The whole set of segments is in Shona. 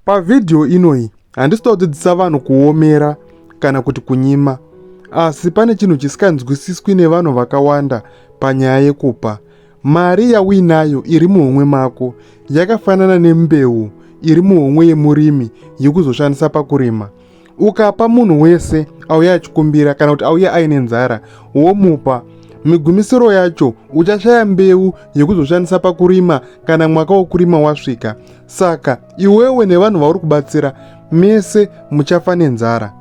Pavhidhiyo inoyi handisi kuda kudzidzisa vanhu kuomera kana kuti kunyima, asi pane chinhu chisinganzwisiswi nevanhu vakawanda panyaya yekupa. Mari yauinayo iri muhomwe mako yakafanana nembeu iri muhomwe yemurimi yekuzoshandisa pakurima. ukapa munhu wese auya achikumbira kana kuti auya aine nzara womupa migumisiro yacho uchashaya mbeu yekuzoshandisa pakurima kana mwaka wokurima wasvika saka iwewe nevanhu vauri kubatsira mese muchafa nenzara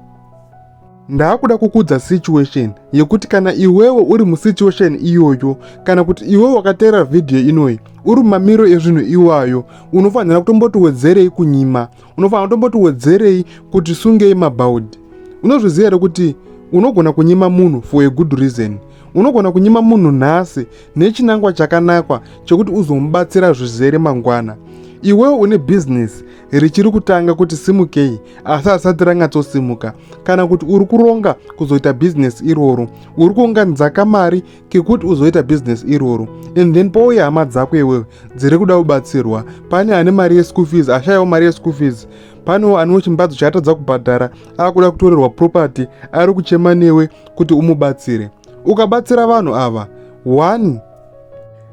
ndaakuda kukudza situation yekuti kana iwewe uri musituation iyoyo kana kuti iwewe wakateerera vhidhiyo inoyi uri mumamiro ezvinhu iwayo unofanira kutomboti wedzerei kunyima unofanira kutomboti wedzerei kuti sungei mabhaudhi unozviziva here kuti unogona kunyima munhu for a good reason unogona kunyima munhu nhasi nechinangwa chakanakwa chekuti uzomubatsira zvizere mangwana iwewo une bhizinesi richiri kutanga kuti simukei asi asati ranyatsosimuka kana kuti uri kuronga kuzoita bhizinesi iroro uri kuunganidza kamari kekuti uzoita business iroro and then pouya hama dzako iwewe dziri kuda kubatsirwa pane ane mari yeschool fees ashayawo mari yeschool fees panewo anewo chimbadzo chaatadza kubhadhara akuda kutorerwa property ari kuchema newe kuti umubatsire ukabatsira vanhu ava one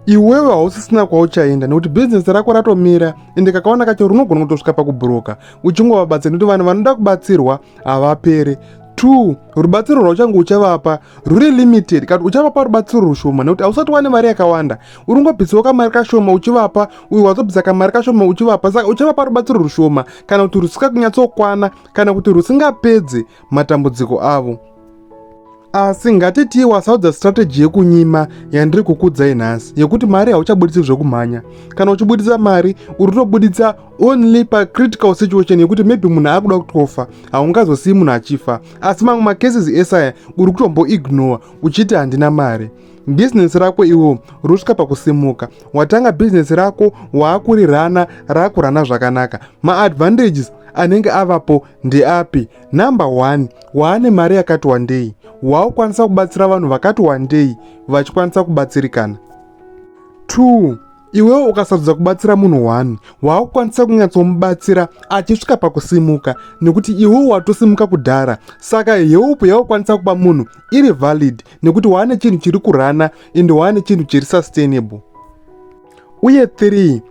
iwewe hausisina kwauchaenda nekuti bhizinesi rako ratomira ende kakawana kacho runogona kutosvika pakubhuroka uchingovabatsira nekuti vanhu vanoda kubatsirwa havapere two rubatsiro rwauchange uchavapa ruri limited kati uchavapa rubatsiro rushoma nekuti hausati wane mari yakawanda uringobvisawo kamari kashoma uchivapa uyu wazobvisa kamari kashoma uchivapa saka uchavapa rubatsiro rushoma kana kuti rusika kunyatsokwana kana kuti rusingapedze matambudziko avo asi ngatitii wasaudza strategy yekunyima yandiri kukudzai nhasi yekuti mari hauchabuditsi zvekumhanya kana uchibuditsa mari uri tobuditsa only pacritical situation yekuti maybe munhu akuda kutofa haungazosiyi munhu achifa asi mamwe macases esaya uri kutomboignore uchiti handina mari bhizinesi rako iwo rusvika pakusimuka watanga bhizinesi rako waakurirana rakurana zvakanaka maadvantages anenge avapo ndeapi Number one, waane mari yakati wandei, waakukwanisa kubatsira vanhu vakati wandei vachikwanisa kubatsirikana. Two, iwewo ukasarudza kubatsira munhu one, waakukwanisa kunyatsomubatsira achisvika pakusimuka nekuti iwewo watosimuka kudhara, saka heupu yaukwanisa kupa munhu iri valid nekuti waane chinhu chiri kurana and waane chinhu chiri sustainable. Uye three,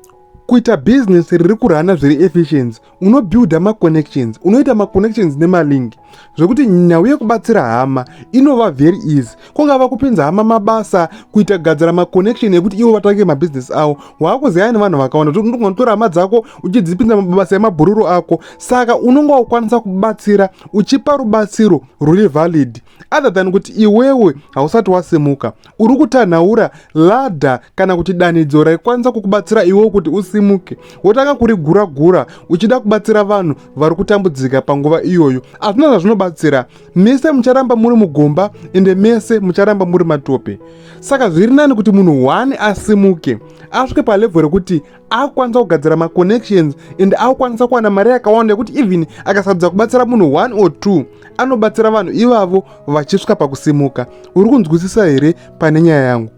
kuita bhizinesi riri kurana zviri efficiency unobuilda maconnections unoita maconnections nemalingi zvekuti nhau yekubatsira hama inova very easy kungava kupinza hama mabasa kuita gadzira maconnection ekuti ivo vatange mabhiziness avo waakuziyaya nevanhu vakawanda kuti unogona kutora hama dzako uchidzipinza mabasa emabhururu ako saka unonga ukwanisa kubatsira uchipa rubatsiro ruri valid other than kuti iwewe hausati wasimuka uri kutanhaura ladha kana kuti danidzo raikwanisa kukubatsira iwewo kuti usimuke wotanga kurigura gura uchida kubatsira vanhu vari kutambudzika panguva iyoyo hazvina zvazvinobatsira mese mucharamba muri mugomba ende mese mucharamba muri matope saka zviri nani kuti munhu one asimuke asvike palevho rekuti akukwanisa kugadzira maconnections and akukwanisa kuwana mari yakawanda yekuti even akasadza kubatsira munhu one or two anobatsira vanhu ivavo vachisvika pakusimuka uri kunzwisisa here pane nyaya yangu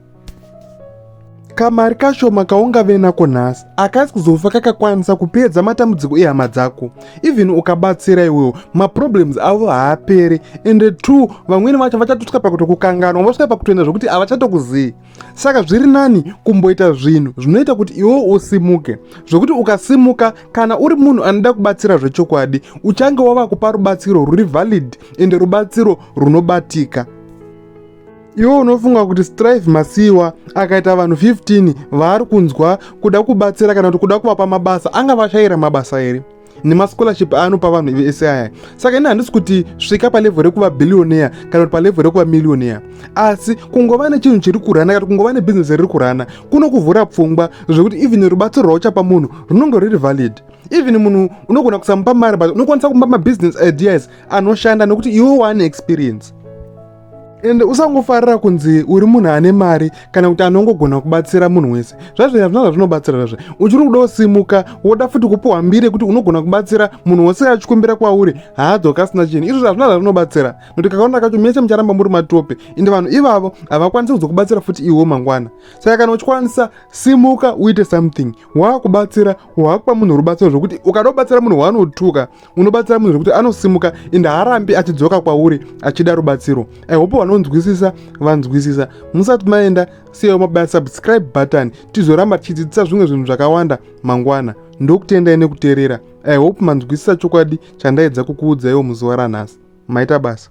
kamari kashoma kaungave nako nhasi akasi kuzofa kakakwanisa kupedza matambudziko ehama dzako even ukabatsira iwewo maproblems avo haaperi ende two vamwene vacho vachatosvika pakutokukanganwa vosvika pakutoenda zvokuti havachatokuzivi saka zviri nani kumboita zvinhu zvinoita kuti iwe usimuke zvokuti ukasimuka kana uri munhu anoda kubatsira zvechokwadi uchange wava kupa rubatsiro ruri valid ende rubatsiro runobatika iwe unofunga kuti strive masiyiwa akaita vanhu 15 vaari kunzwa kuda kubatsira kana kuti kuda kuvapa mabasa anga vashayira mabasa here nemascholarship aanopa vanhu vese aya saka ini handisi kuti svika palevhel rekuva billionaire kana kuti palevhel rekuva millionaire asi kungova nechinhu chiri kurana kana kungova nebhizinesi riri kurana kunokuvhura pfungwa zvekuti even rubatsiro rwauchapa munhu runonge ruri valid even munhu unogona kusamupa mari but unokwanisa kumupa mabhizinesi ideas anoshanda nekuti iwe waane experience ende usangofarira kunzi uri munhu ane mari kana kuti anongogona kubatsira munhu wese zvazviya zvina zvazvinobatsira zvazve uchiri kuda kusimuka woda futi kupiwa mbiri yekuti unogona kubatsira munhu wose achikumbira kwauri haadzoka asina chinhu izvo zvazvina zvazvinobatsira nokuti kakaona kacho mese mucharamba muri matope ende vanhu ivavo havakwanisi kuzokubatsira futi iwo mangwana saka kana uchikwanisa simuka uite something waakubatsira waakupa munhu rubatsiro zvokuti ukada kubatsira munhu waanotuka unobatsira munhu zvekuti anosimuka ende haarambi achidzoka kwauri achida rubatsiro i hope vanonzwisisa vanzwisisa musati maenda siyawo mabaya subscribe button tizoramba tichidzidzisa zvimwe zvinhu zvakawanda mangwana ndokutendai nekuteerera i hope manzwisisa chokwadi chandaedza kukuudzaiwo muzuva ranhasi maita basa